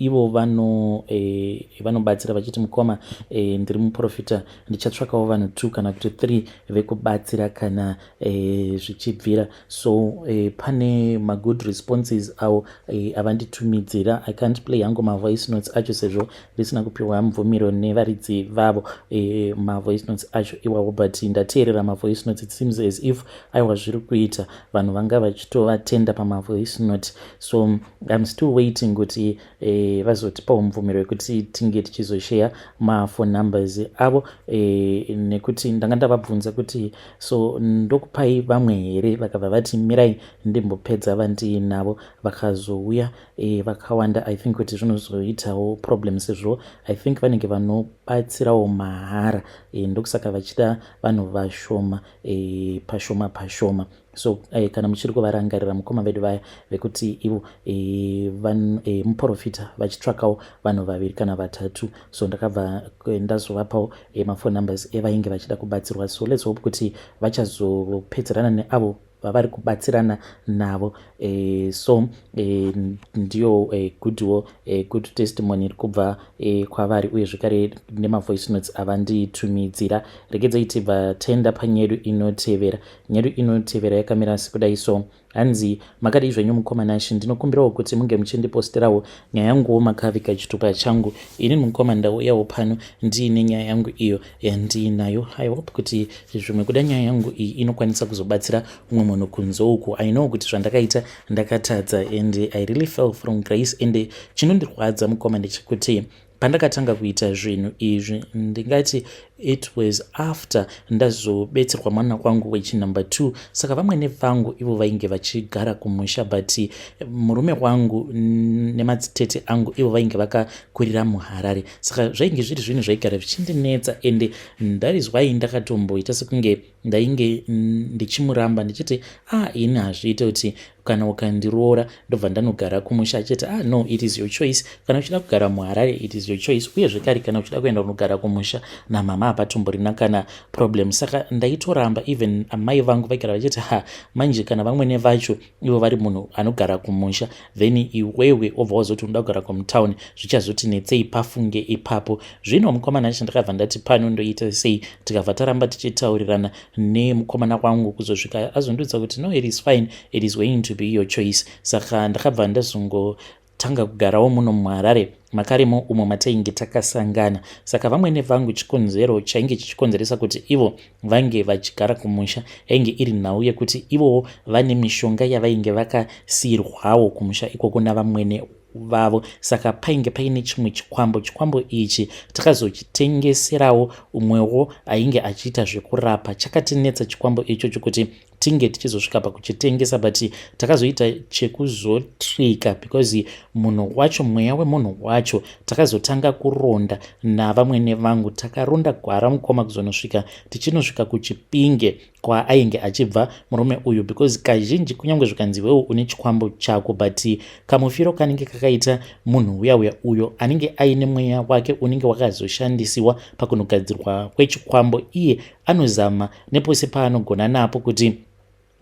ivo vano eh, vanobatsira vachiti mukoma eh, ndiri muprofita ndichatsvakawo vanhu two kana kuti three vekubatsira kana eh, zvichibvira so eh, pane magood responses awo eh, avanditumidzira i can't play hangu mavoice notes acho sezvo ndisina kupiwa mvumiro nevaridzi vavo eh, mavoice notes acho iwawo but ndateerera mavoice notes it seems as if aiwa zviri kuita vanhu vanga vachitovatenda pamavoice note so im still waiting kuti eh, vazotipawo mubvumiro wekuti tinge tichizosheya maphone numbers avo eh, nekuti ndanga ndavabvunza kuti so ndokupai vamwe here vakabva vati mirai ndimbopedza vandiinavo vakazouya eh, vakawanda i think kuti zvinozoitawo problem sezvo i think vanenge vanobatsirawo mahara eh, ndokusaka vachida vanhu vashoma eh, pashoma pashoma pa so eh, kana muchiri kuvarangarira mukoma vedu vaya vekuti ivo eh, van, eh, muprofita vachitsvakawo vanhu vaviri kana vatatu so ndakabva eh, ndazovapawo eh, mafone numbers evainge vachida kubatsirwa so let's hope kuti vachazopedzerana neavo vavari kubatsirana navo e, so e, ndiyo e, goodwo e, good testimony iri kubva e, kwavari uye zvekare nemavoice notes avandiitumidzira regedzai tibva tenda panyedu inotevera Nyedu inotevera yakamira sekudai so. Hanzi, makadii zvenyu mukoma Nash, ndinokumbirawo kuti munge muchindipostirawo nyaya yanguwo makaviga chitupa changu. Ini mukoma ndauyawo pano ndiine nyaya yangu iyo yandiinayo. I hope kuti zvimwe kuda nyaya yangu iyi inokwanisa kuzobatsira umwe munhu kunze uku. I know kuti zvandakaita ndakatadza and I really fell from grace and chinondirwadza mukoma ndechekuti pandakatanga kuita zvinhu izvi ndingati it was after ndazobetserwa mwana kwangu wechinumber two saka vamwene vangu ivo vainge vachigara kumusha but murume wangu nemadzitete angu ivo vainge vakakurira muharare saka zvainge zviri zvinhu zvaigara zvichindinetsa ende that is why ndakatomboita sekunge ndainge ndichimuramba ndichiti ah ini hazviite kuti kana ukandiroora ndobva ndanogara kumusha achiti ah no it is your choice kana uchida kugara muharare it is your choice uye zvekare kana uchida kuenda kunogara kumusha namama hapatomborina kana problem saka ndaitoramba even amai vangu vaigara vachiti ha manje kana vamwene vacho ivo vari munhu anogara kumusha then iwewe obva wazoti unoda kugara kumutown zvichazoti netsei pafunge ipapo zvino mukomana acho ndakabva ndati pano ndoita sei tikabva taramba tichitaurirana nemukomana wangu kuzosvika azondiudza kuti no it is fine it is going to be your choice saka ndakabva ndazongo tanga kugarawo muno muharare makarimo umo matainge takasangana saka vamwene vangu chikonzero chainge chichikonzeresa kuti ivo vange vachigara kumusha yainge iri nhau yekuti ivowo vane mishonga yavainge vakasiirwawo kumusha ikoko navamwene vavo saka painge paine chimwe chikwambo chikwambo ichi takazochitengeserawo umwewo ainge achiita zvekurapa chakatinetsa chikwambo ichocho kuti tinge tichizosvika pakuchitengesa but takazoita chekuzotrika because munhu wacho mweya wemunhu wacho takazotanga kuronda navamwene vangu takaronda gwara mukoma kuzonosvika tichinosvika kuchipinge kwaainge achibva murume uyu because kazhinji kunyange zvikanzi wewo une chikwambo chako but kamufiro kanenge kakaita munhu uya uya uyo anenge aine mweya wake unenge wakazoshandisiwa pakunogadzirwa kwechikwambo iye anozama nepose paanogona napo kuti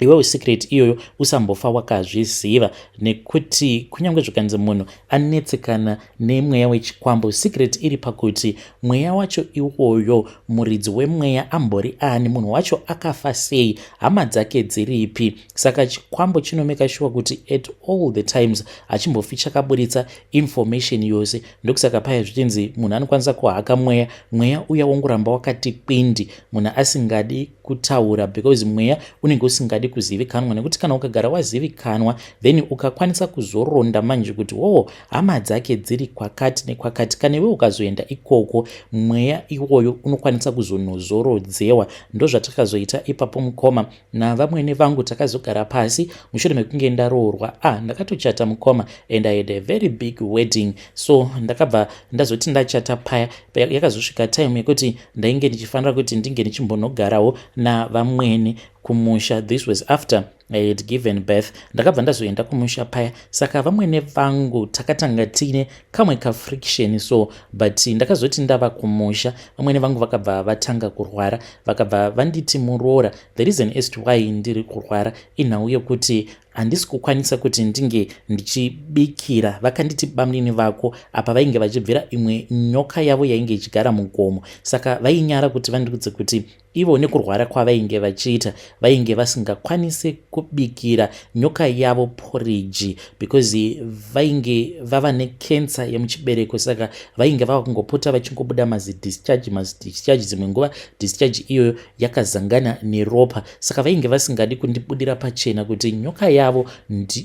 iwewo secret iyoyo usambofa wakazviziva nekuti kunyange zvikanzi munhu anetsekana nemweya wechikwambo secret iri pakuti mweya wacho iwoyo muridzi wemweya ambori ani munhu wacho akafa sei hama dzake dziripi saka chikwambo chinomeka shuwa kuti at all the times hachimbofi chakaburitsa information yose ndokusaka paya zvichinzi munhu anokwanisa kuhaka mweya mweya uya wongoramba wakati kwindi munhu asingadi kutaura because mweya unenge usingadi kuzivikanwa nekuti kana ukagara wazivikanwa then ukakwanisa kuzoronda manje kuti woo hama dzake dziri kwakati nekwakati kana iwe ukazoenda ikoko mweya iwoyo unokwanisa kuzonozorodzewa ndozvatakazoita ipapo mukoma navamwene vangu takazogara pasi mushure mekunge ndaroorwa a ah, ndakatochata mukoma and i had a very big wedding so ndakabva ndazoti ndachata paya yakazosvika time yekuti ndainge ndichifanira kuti ndinge ndichimbonogarawo navamwene kumusha this was after i had given birth ndakabva ndazoenda kumusha paya saka vamwene vangu takatanga tine kamwe kafriction so but ndakazoti ndava kumusha vamwene vangu vakabva vatanga kurwara vakabva vanditi muroora the reason as to why ndiri kurwara inhau yokuti handisi kukwanisa kuti ndinge ndichibikira vakanditi bamnini vako apa vainge vachibvira imwe nyoka yavo yainge ichigara mugomo saka vainyara kuti vandiudze kuti Ivo nekurwara kwavainge vachiita vainge vasingakwanise kubikira nyoka yavo poriji because vainge vava nekensa yemuchibereko saka vainge vava kungopota vachingobuda mazidischarge mazidischarge dzimwe nguva discharge iyoyo yakazangana neropa saka vainge vasingadi kundibudira pachena kuti nyoka yavo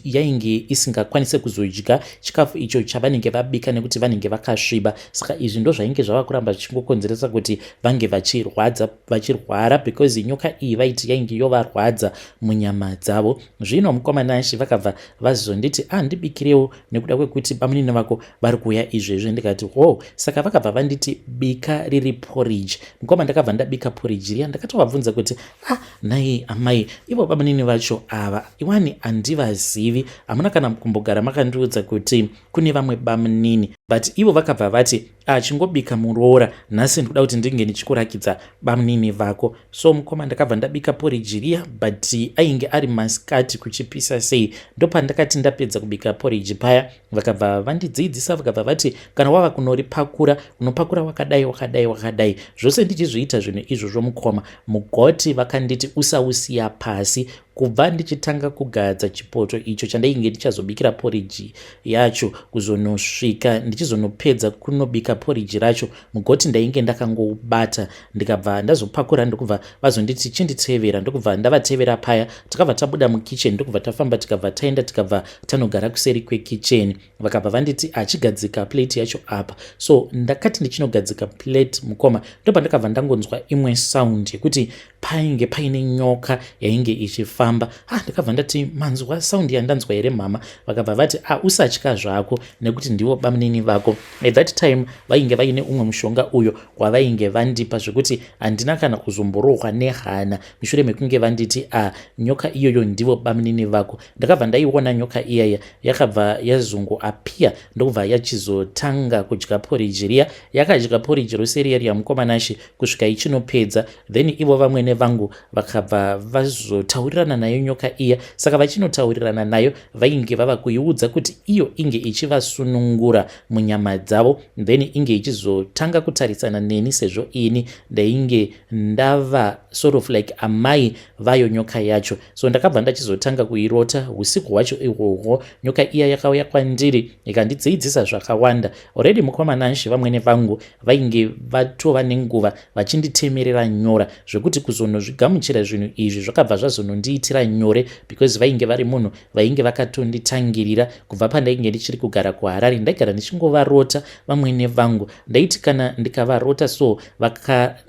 yainge isingakwanise kuzodya chikafu icho chavanenge vabika nekuti vanenge vakasviba saka izvi ndozvainge zvava kuramba zvichingokonzeresa kuti vange vachirwadza vachirwara because nyoka iyi vaiti yainge yovarwadza munyama dzavo zvino mukoma nashe vakabva vazonditi andibikirewo ah, nekuda kwekuti bamunini vako vari kuuya izvezvi ndikati ho saka vakabva vanditi bika riri porridge mukoma ndakabva ndabika porridge riya ndakatovabvunza kuti ah nhai amai ivo bamunini vacho ava iwani handivazivi hamuna kana kumbogara makandiudza kuti ah, kune vamwe bamunini but ivo vakabva vati achingobika muroora nhasi ndikuda kuti ndinge ndichikurakidza bamunini vako so mukoma ndakabva ndabika poriji riya but ainge ari masikati kuchipisa sei ndopandakati ndapedza kubika poriji paya vakabva vandidziidzisa vakabva vati kana wava kunoripakura unopakura wakadai wakadai wakadai zvose ndichizviita zvinhu izvozvo mukoma mugoti vakanditi usausiya pasi kubva ndichitanga kugadza chipoto icho chandainge ndichazobikira poriji yacho kuzonosvika ndichizonopedza kunobika poriji racho mugoti ndainge ndakangoubata ndikabva ndazopakura ndokubva vazonditi chinditevera ndokubva ndavatevera paya takabva tabuda mukitchen ndokubva tafamba tikabva taenda tikabva tanogara kuseri kwekicheni vakabva vanditi achigadzika plate yacho apa so ndakati ndichinogadzika plate mukoma ndopandakabva ndangonzwa imwe sound yekuti painge paine nyoka yainge ichifamba ha ah, ndakabva ndati manzwa sound yandanzwa here mhama vakabva vati a ah, usatya zvako nekuti ndivo bamunini vako at that time vainge vaine umwe mushonga uyo wavainge vandipa zvekuti handina kana kuzomborohwa nehana mushure mekunge vanditi a ah, nyoka iyoyo ndivo bamunini vako ndakabva ndaiona nyoka iyaya yakabva yazungu apia ndokubva yachizotanga kudya poriji riya yakadya poriji rose riya riya mukomanashe kusvika ichinopedza then ivo vamwene vangu vakabva vazotaurirana nayo nyoka iya saka vachinotaurirana nayo vainge vava kuiudza kuti iyo inge ichivasunungura munyama dzavo then inge ichizotanga kutarisana neni sezvo ini ndainge ndava sort of like amai vayo nyoka yacho so ndakabva ndachizotanga kuirota usiku hwacho ihwohwo nyoka iya yakauya kwandiri ikandidziidzisa zvakawanda already mukomana nshe vamwene vangu vainge vatova nenguva vachinditemerera nyora zvekuti kuzonozvigamuchira zvinhu izvi zvakabva zvazonondiitira nyore because vainge vari munhu vainge vakatonditangirira kubva pandainge ndichiri kugara kuharari ndaigara ndichingovarota vamwene vangu ndaiti kana ndikavarota so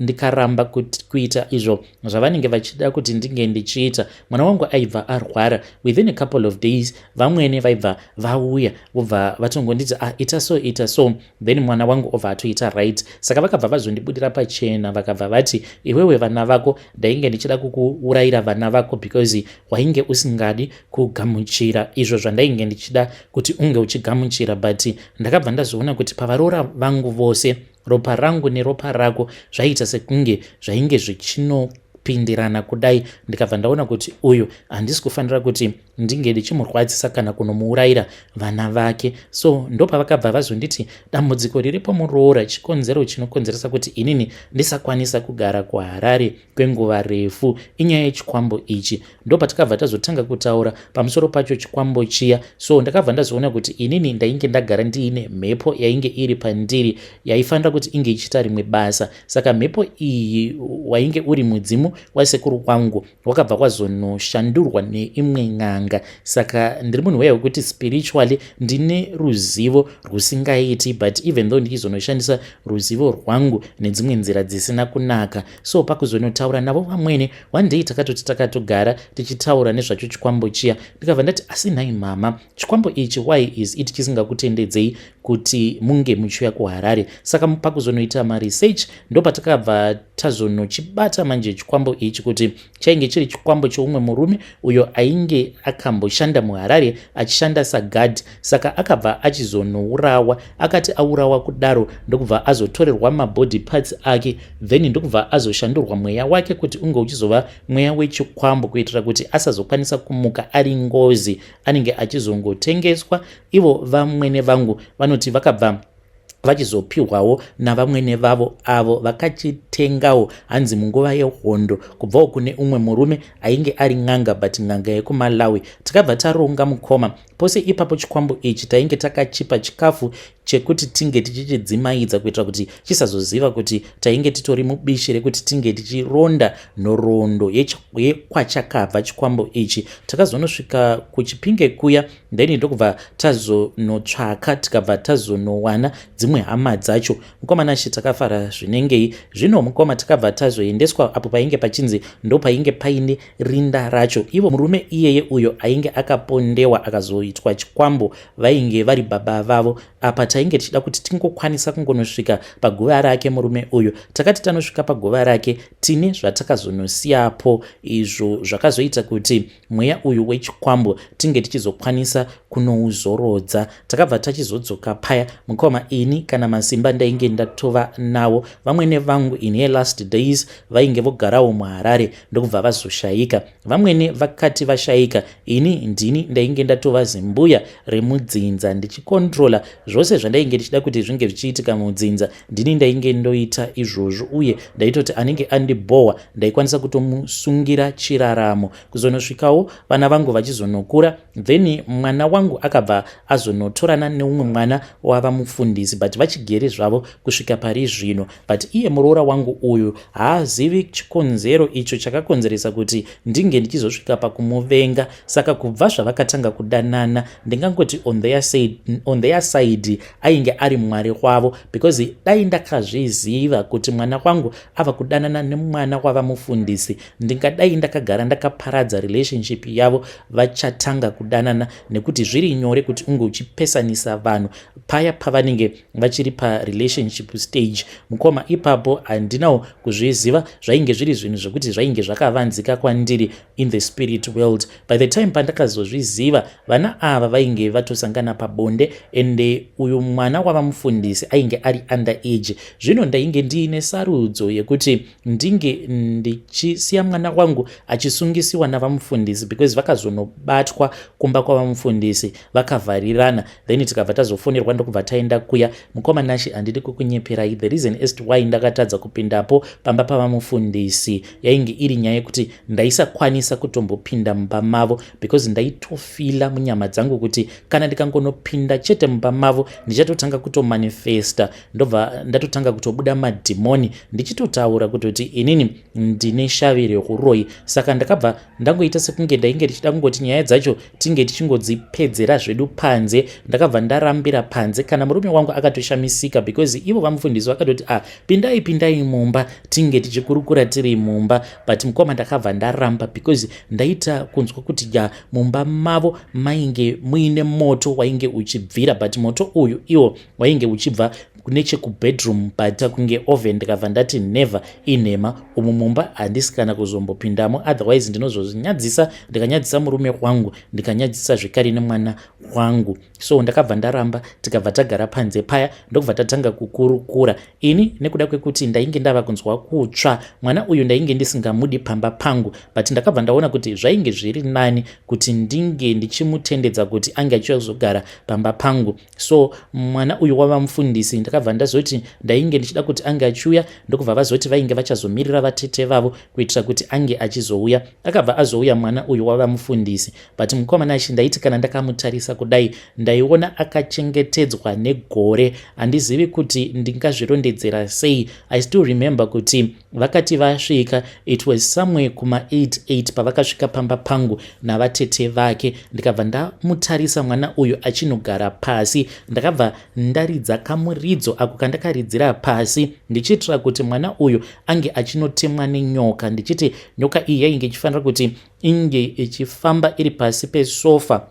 ndikaramba kuita izvo zvavanenge vachida kuti ndinge ndichiita mwana wangu aibva arwara within a couple of days vamwene vaibva vauya vobva vatongonditi ah ita so ita so then mwana wangu obva atoita right saka vakabva vazondibudira pachena vakabva vati iwewe vana vako ndainge ndichida kukuurayira vana vako because wainge usingadi kugamuchira izvo zvandainge ndichida kuti unge uchigamuchira but ndakabva ndazoona kuti pavaroora vangu vose Ropa rangu neropa rako zvaiita sekunge zvainge zvichino kupindirana kudai ndikabva ndaona kuti uyu handisi kufanira kuti ndinge ndichimurwadzisa kana kunomuurayira vana vake so ndopavakabva vazonditi dambudziko riripo muroora chikonzero chinokonzeresa kuti inini ndisakwanisa kugara kuharare kwenguva refu inyaya yechikwambo ichi ndopatakabva tazotanga kutaura pamusoro pacho chikwambo chiya so ndakabva ndazoona kuti inini ndainge ndagara ndiine mhepo yainge iri pandiri yaifanira kuti inge ichiita rimwe basa saka mhepo iyi wainge uri mudzimu wasekuru kwangu wakabva kwazonoshandurwa neimwe n'anga saka ndiri munhu weya wekuti spiritually ndine ruzivo rwusingaiti but even though ndichizonoshandisa ruzivo rwangu nedzimwe nzira dzisina kunaka so pakuzonotaura navo vamwene one day takatoti takatogara tichitaura nezvacho chikwambo chiya ndikabva ndati asi nhai mama chikwambo ichi why is it chisingakutendedzei kuti munge muchiuya kuharare saka pakuzonoita maresearch ndopatakabva tazonochibata manje chikwambo ichi kuti chainge chiri chikwambo choumwe murume uyo ainge akamboshanda muharare achishanda sagad saka akabva achizonourawa akati aurawa kudaro ndokubva azotorerwa mabody parts ake then ndokubva azoshandurwa mweya wake kuti unge uchizova mweya wechikwambo kuitira kuti asazokwanisa kumuka ari ngozi anenge achizongotengeswa ivo vamwene vangu vanoti vakabva vachizopihwawo navamwene vavo avo vakachitengawo hanzi munguva yehondo kubvawo kune umwe murume ainge ari n'anga but n'anga yekumalawi tikabva taronga mukoma pose ipapo chikwambo ichi tainge takachipa chikafu chekuti tinge tichichidzimaidza kuitira kuti chisazoziva kuti tainge titori mubishi rekuti tinge tichironda nhoroondo yekwachakabva chikwambo ichi takazonosvika kuchipinge kuya then ndokubva tazonotsvaka tikabva tazonowana dzimwe hama dzacho mukoma nashe takafara zvinengei zvino mukoma takabva tazoendeswa apo painge pachinzi ndo painge paine rinda racho ivo murume iyeye uyo ainge akapondewa akazoitwa chikwambo vainge vari baba vavo apa tainge tichida kuti tingokwanisa kungonosvika paguva rake murume uyu takati tanosvika paguva rake tine zvatakazonosiyapo izvo zvakazoita kuti mweya uyu wechikwambo tinge tichizokwanisa kunouzorodza takabva tachizodzoka paya mukoma ini kana masimba ndainge ndatova nawo vamwene vangu in her last days vainge vogarawo muharare ndokubva vazoshaika vamwene vakati vashaika ini ndini ndainge ndatova zimbuya remudzinza ndichikontrola zvose zvandainge ndichida kuti zvinge zvichiitika mudzinza ndini ndainge ndoita izvozvo uye ndaitoti anenge andibhohwa ndaikwanisa kutomusungira chiraramo kuzonosvikawo vana vangu vachizonokura then mwana wangu akabva azonotorana neumwe mwana wava mufundisi but vachigere zvavo kusvika pari zvino but iye muroora wangu uyu haazivi chikonzero icho chakakonzeresa kuti ndinge ndichizosvika pakumuvenga saka kubva zvavakatanga kudanana ndingangoti on their side, on their side ainge ari mwari wavo because dai ndakazviziva kuti mwana wangu ava kudanana nemwana wava mufundisi ndingadai ndakagara ndakaparadza relationship yavo vachatanga kudanana nekuti zviri nyore kuti unge uchipesanisa vanhu paya pavanenge vachiri parelationship stage mukoma ipapo handinawo kuzviziva zvainge zviri zvinhu zvekuti zvainge zvakavanzika kwandiri in the spirit world by the time pandakazozviziva vana ava vainge vatosangana pabonde ende uyu mwana wava mufundisi ainge ari under age zvino ndainge ndiine sarudzo yekuti ndinge ndichisiya mwana wangu achisungisiwa navamufundisi because vakazonobatwa kumba kwavamufundisi vakavharirana then tikabva tazofonerwa ndokubva taenda kuya mukoma nashe handidi kukunyeperai the reason est why ndakatadza kupindapo pamba pavamufundisi yainge iri nyaya yekuti ndaisakwanisa kutombopinda mumba mavo because ndaitofila munyama dzangu kuti kana ndikangonopinda chete mumba mavo ndichatotanga kutomanifesta ndobva ndatotanga kutobuda madhimoni ndichitotaura kutoti inini ndine shavi reuroyi saka ndakabva ndangoita sekunge ndainge ndichida kungoti nyaya dzacho tinge tichingodzipedzera zvedu panze ndakabva ndarambira panze kana murume wangu akatoshamisika because ivo vamufundisi vakatoti a ah, pindai pindai mumba tinge tichikurukura tiri mumba but mukoma ndakabva ndaramba because ndaita kunzwa kuti ya mumba mavo mainge muine moto wainge uchibvira but moto uyu iwo wainge uchibva nechekubedroom paita kunge oven ndikabva ndati never inhema umu mumba handisi kana kuzombopindamo otherwise ndinozozvinyadzisa ndikanyadzisa murume wangu ndikanyadzisa zvekare nemwana wangu so ndakabva ndaramba tikabva tagara panze paya ndokubva tatanga kukurukura ini nekuda kwekuti ndainge ndava kunzwa kutsva mwana uyu ndainge ndisingamudi pamba pangu but ndakabva ndaona kuti zvainge zviri nani kuti ndinge ndichimutendedza kuti ange achizogara pamba pangu so mwana uyu wava mufundisi ndakabva ndazoti ndainge ndichida kuti ange achiuya ndokubva vazoti vainge vachazomirira vatete vavo kuitira kuti ange achizouya akabva azouya mwana uyu wava mufundisi but mukomana achi ndaiti kana ndakamutarisa kudai ndaiona akachengetedzwa negore handizivi kuti ndingazvirondedzera sei i still remember kuti Vakati vasvika it was somewhere kuma 88 pavakasvika pamba pangu navatete vake ndikabva ndamutarisa mwana uyu achinogara pasi ndakabva ndaridza kamuridzo ako kandakaridzira pasi ndichiitira kuti mwana uyu ange achinotemwa nenyoka ndichiti nyoka iyi yainge ichifanira kuti inge ichifamba iri pasi pesofa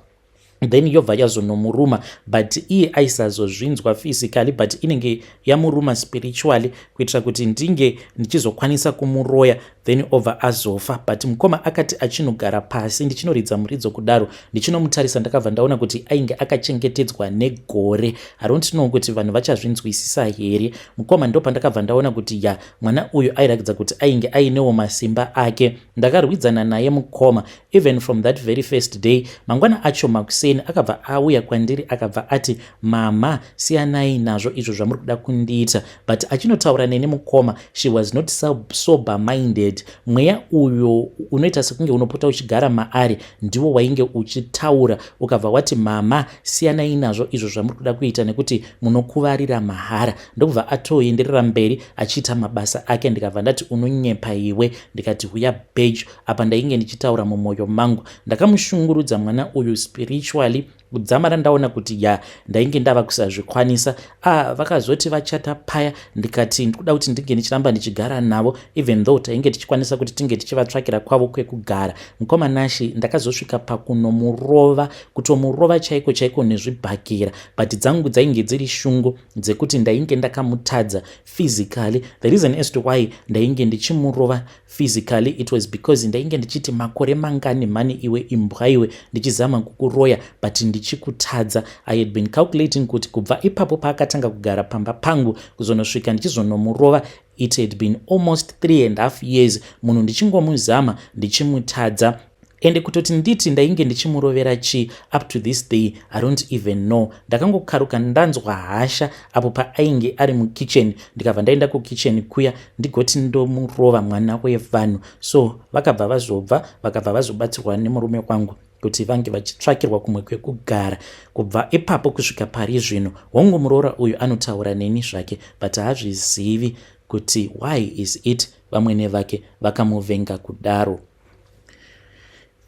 then yobva yazonomuruma but iye aisazozvinzwa physically but inenge yamuruma spiritually kuitira kuti ndinge ndichizokwanisa kumuroya then obva azofa but mukoma akati achinogara pasi ndichinoridza muridzo kudaro ndichinomutarisa ndakabva ndaona kuti ainge akachengetedzwa negore haront know kuti vanhu vachazvinzwisisa here mukoma ndo pandakabva ndaona kuti ya mwana uyu airakidza kuti ainge ainewo masimba ake ndakarwidzana naye mukoma Even from that very first day, mangwana acho makuseni akabva auya kwandiri akabva ati, mama, siyanai nazvo izvo zvamuri kuda kundiita. But achinotaura neni mukoma, she was not sober minded. Mweya uyo unoita sekunge unopota uchigara maari ndiwo wainge uchitaura ukabva wati, mama, siyanai nazvo izvo zvamuri kuda kuita nekuti munokuvarira mahara. Ndokubva atoenderera mberi achiita mabasa ake ndikabva ndati, unonyepa iwe. Ndikati, huya bejo, apa ndainge ndichitaura mumwoyo mangu ndakamushungurudza mwana uyu spiritually kudzamara ndaona kuti ya ndainge ndava kusazvikwanisa a ah, vakazoti vachata paya ndikati ndikuda kuti ndinge ndichiramba ndichigara navo even though tainge tichikwanisa kuti tinge tichivatsvakira kwavo kwekugara mukoma nashi ndakazosvika pakunomurova kutomurova chaiko chaiko nezvibhakira but dzangu dzainge dziri shungu dzekuti ndainge ndakamutadza physically the reason as to why ndainge ndichimurova Physically it was because ndainge ndichiti makore mangani mhani iwe imbwa iwe ndichizama kukuroya but ndichikutadza. I had been calculating kuti kubva ipapo paakatanga kugara pamba pangu kuzonosvika ndichizonomurova it had been almost three and half years munhu ndichingomuzama ndichimutadza ende kutoti nditi ndainge ndichimurovera chii up to this day i don't even know ndakangokaruka ndanzwa hasha apo paainge ari mukitchen ndikabva ndaenda kukitchen kuya ndigoti ndomurova mwana wevanhu so vakabva vazobva vakabva vazobatsirwa nemurume wangu kuti vange vachitsvakirwa kumwe kwekugara kubva ipapo kusvika pari zvino hongu muroora uyu anotaura neni zvake but haazvizivi kuti why is it vamwene vake vakamuvenga kudaro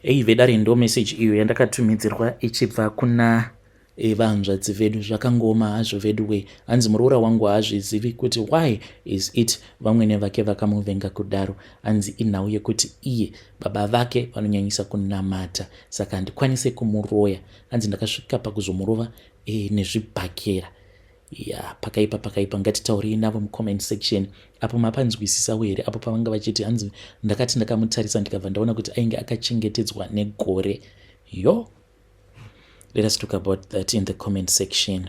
Hey vedare ndo message iyo yandakatumidzirwa ichibva kuna eh, vahanzvadzi vedu zvakangooma hazvo vedu we hanzi muroora wangu haazvizivi kuti why is it vamwene vake vakamuvenga kudaro hanzi inhau yekuti iye baba vake vanonyanyisa kunamata saka handikwanise kumuroya hanzi ndakasvika pakuzomurova e, eh, nezvibhakera Yeah, pakaipa pakaipa ngatitaurei navo mucomment section apo mapanzwisisawo here apo pavanga vachiti hanzi ndakati ndakamutarisa ndikabva ndaona kuti ainge akachengetedzwa negore yo let us talk about that in the comment section